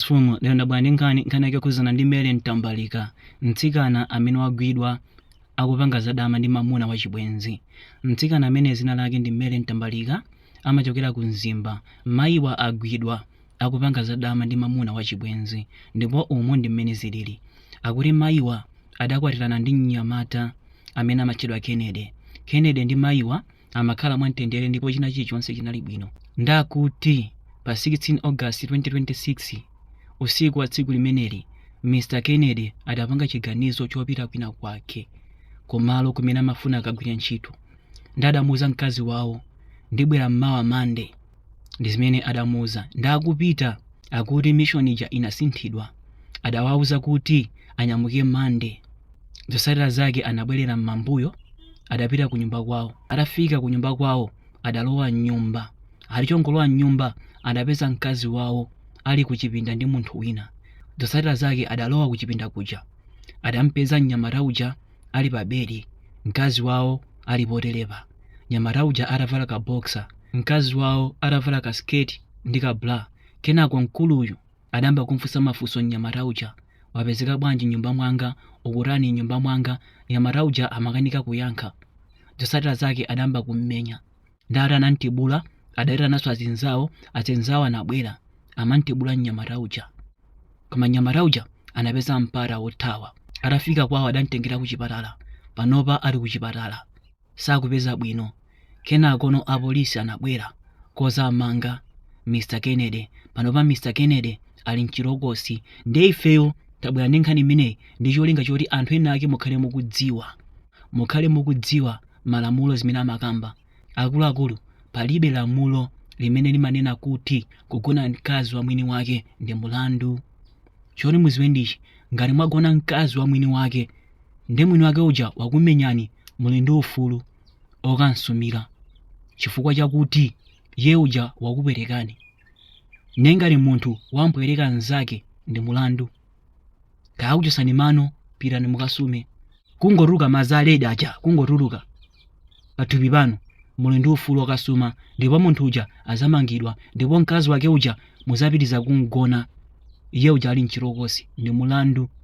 Mfumu, lero ndabwera ndi nkhani nkhani yake yokhuzana ndi Mary Mtambalika mtsikana amene wagwidwa akupanga zadama ndi mamuna wachibwenzi mtsikana amene zina lake ndi Mary Mtambalika amachokera ku Mzimba mayiwa agwidwa akupanga zadama ndi mamuna wachibwenzi ndipo umu ndi mmene zilili akuti mayiwa adakwatirana ndi mnyamata amene amatchedwa Kennedy Kennedy ndi mayiwa amakhala mwamtendere ndipo china chilichonse chinali bwino. Ndakuti pa 16 August 2026, usiku wa tsiku limeneli, Mr Kennedy adapanga chiganizo chopita kwina kwake kumalo kumene amafuna akagwire ntchito. Nde adamuuza mkazi wawo, ndibwera mmawa Monday. ndi zimene adamuuza nde atapita akuti mission ija inasinthidwa adawauza kuti anyamuke Monday zotsatira zake anabwerera m'mambuyo adapita ku nyumba kwawo atafika ku nyumba kwawo adalowa mnyumba ali chongolowa mnyumba adapeza mkazi wawo ali ku chipinda ndi munthu wina zotsatira zake adalowa ku chipinda kuja adampeza mnyamata uja ali pa bedi mkazi wawo ali poterepa nyamata uja atavala ka boxer mkazi wawo atavala ka sketi ndi ka bra kenako mkuluyu adayamba kumfunsa mafunso mnyamata uja wapezeka bwanji mnyumba mwanga ukutani mnyumba mwanga nyamata uja amakanika kuyankha zotsatira zake adayamba kummenya ndati anamtibula adayitananso azinzawo azinzawo anabwera amamtibula mnyamata uja koma nyamata uja anapeza mpata wothawa atafika kwawo adamtengera kuchipatala panopa ali kuchipatala sakupeza bwino kenakono apolisi anabwera kuzamanga Mr Kennedy panopa Mr Kennedy ali mchitokosi nde ifeyo tabwera ndi nkhani imeneyi ndi cholinga choti anthu ena ake mukhale mukudziwa mukhale mukudziwa malamulo zimene amakamba akuluakulu palibe lamulo limene limanena kuti kugona mkazi wa mwini wake ndi mulandu choti muziwe ndichi ngati mwagona mkazi wa mwini wake nde mwini wake uja wakumenyani muli ndi ufulu okamsumira chifukwa chakuti ye uja wakupwetekani nde ngati munthu wampweteka mnzake ndi mulandu kaya akuchosani mano pitani mukasume kungotuluka madzi a red aja kungotuluka pathupi panu muli ndi ufulu okasuma ndipo munthu uja azamangidwa ndipo mkazi wake uja muzapitiza kumgona iye uja ali mchitokosi ndi mulandu